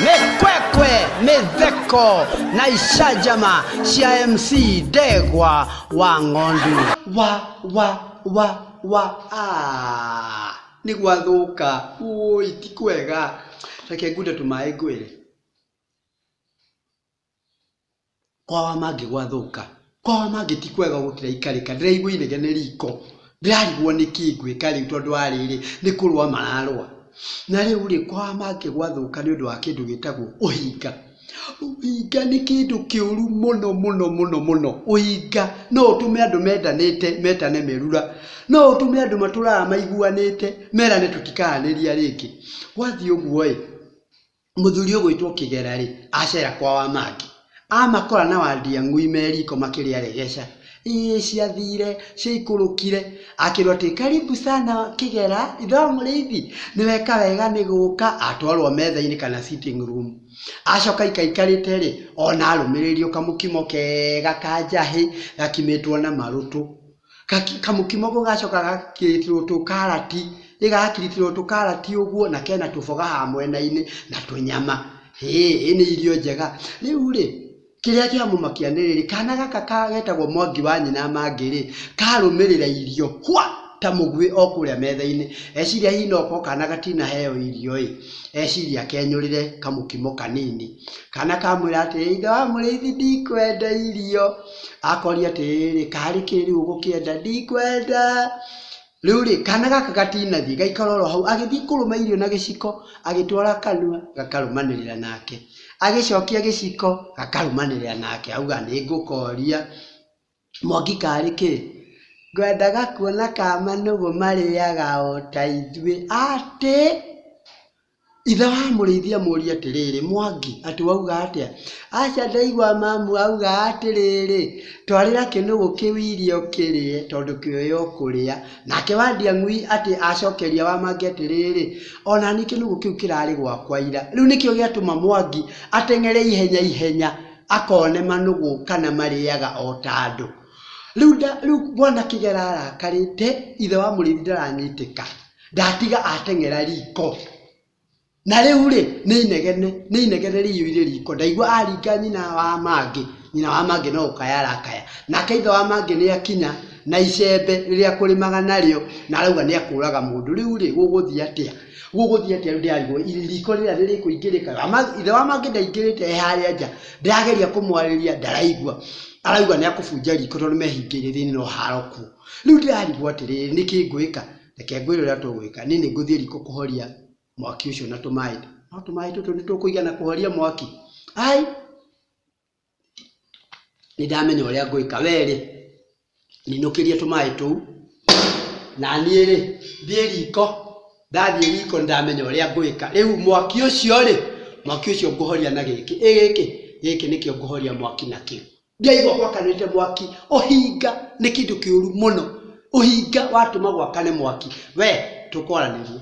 mekwekwe metheko na ishajama cia mc ndegwa wa ng'ondu wa wa wa wa ah. nĩ gwathũka ũi ti kwega reke ngunde tũmaĩ ngwĩre Kwa wa mangĩ gwathũka, kwa wa mangĩ ti kwega gũkĩra ikarĩka, ndĩraigua inegene riko, ndĩrarigwo nĩkĩ ngwĩka rĩu tondũ wa rĩrĩ, nĩ kũrũa mararũa. Na rĩu rĩ, kwa wa mangĩ gwathũka nĩ ũndũ wa kĩndũ gĩtagwo ũhinga. Ũhinga nĩ kĩndũ kĩũru mũno mũno mũno mũno. Ũhinga no ũtũme andũ mendanĩte metane merura. No ũtũme andũ matũraga maiguanĩte merane tũtikaranĩria rĩngĩ. Gwathiĩ ũguo ĩ, Mũthuri ũgwĩtwo Kĩgera-rĩ, acera kwa Wamangi. Amakora na Wandiang'ui me riko makĩrĩa regeca. Ĩĩ ciathire, ciaikũrũkire. Akĩrwo atĩ, Karibu sana Kĩgera, ithe wa mũrĩithi, nĩweka wega nĩ gũka. Atwarwo metha-inĩ kana sitting room. Acoka aika aikarĩte-rĩ, ona arũmĩrĩrio kamũkimo kega ka njahĩ, gakimĩtwo na marũtũ. kamũkimo kau gacoka gagekĩrĩtwo tũkarati, gagakirĩtĩrwo tũkarati ũguo na kena tũboga haha mwena-inĩ na tũnyama. Hĩĩ nĩ irio njega. Rĩu rĩ, kĩrĩa kĩamũmakia nĩ rĩrĩ, kana gaka getagwo Mwangi wa nyina Mangĩ rĩ, karũmĩrĩra irio hwa! ta mũguĩ o kũrĩa metha-inĩ. Eciria hihi no gũkorwo kana gatinaheo irio ĩ, eciria kenyũrĩre kamũkimo kanini. Kana kamwĩra atĩrĩ, ithe wa mũrĩithi ndikwenda irio. akoria atĩrĩrĩ karĩ kĩ rĩu ũgũkĩenda ndikwenda rĩu rĩ kana gaka gatinathiĩ gaikara oro hau agĩthiĩ kũrũma irio na gĩciko agĩtwara kanua gakarũmanĩrĩra nake agĩcokia gĩciko gakarũmanĩrĩra nake auga nĩ ngũkoria mwangi karĩ kĩ ngwendaga kuona ka manũgũ marĩaga o ta ithuĩ atĩ Ithe wa mũrĩithi amũũria atĩrĩrĩ, Mwangi, atĩ wauga atĩa? Aca ndaigua mamu auga atĩrĩrĩ, Twarĩra kĩnũgũ kĩu irio kĩrĩe, tondũ kĩoĩ o kũrĩa. Nake wa Ndiang'ui atĩ acokeria wa Mwangi atĩrĩrĩ, O na niĩ kĩnũgũ kĩu kĩrarĩ gwakwa ira. Rĩu nĩkĩo gĩatũma Mwangi ateng'ere ihenya ihenya akone manũgũ kana marĩaga o ta andũ. Rĩu Bwana Kĩgera arakarĩte, ithe wa mũrĩithi ndaranyitĩka. ndatiga ateng'era riko na rĩu rĩ nĩ inegene nĩ inegene rĩiyũire riko ndaigua aringa nyina wa mangĩ nyina wa mangĩ no gũkaya arakaya nake ithe wa mangĩ nĩ akinya na icembe rĩrĩa kũrĩmaga narĩo na arauga nĩ akũraga mũndũ rĩu rĩ gũgũthiĩ atĩa gũgũthiĩ atĩa rĩu ndĩrarigwo riko rĩrĩa rĩrĩkũingĩrĩka Ama- ithe wa mangĩ ndaingĩrĩte e harĩa nja ndĩrageria kũmwarĩria ndaraigua arauga nĩ akũbunja riko tondũ mehingĩire thĩinĩ no haro kuo rĩu ndĩrarigwo atĩrĩrĩ nĩkĩ ngwĩka Reke ngwĩre ũrĩa tũgwĩka, niĩ nĩ ngũthiĩ riko kũhoria mwaki ũcio na tũmaĩ. No tũmaĩ tũtũ nĩ tũkũigana kũhoria mwaki? Ai! Nĩ ndamenya ũrĩa ngwĩka, we rĩ, ninũkĩrie tũmaĩ tũu, na niĩ rĩ, thiĩ riko, ndathiĩ riko nĩ ndamenya ũrĩa ngwĩka. Rĩu mwaki ũcio rĩ, mwaki ũcio ngũhoria na gĩkĩ, ĩ gĩkĩ? Gĩkĩ nĩkĩo ngũhoria mwaki nakĩo. Ndiaigua gwakanĩte mwaki. Ũhinga nĩ kĩndũ kĩũru mũno. Ũhinga watũma gwakane mwaki. We, tũkwaranĩria.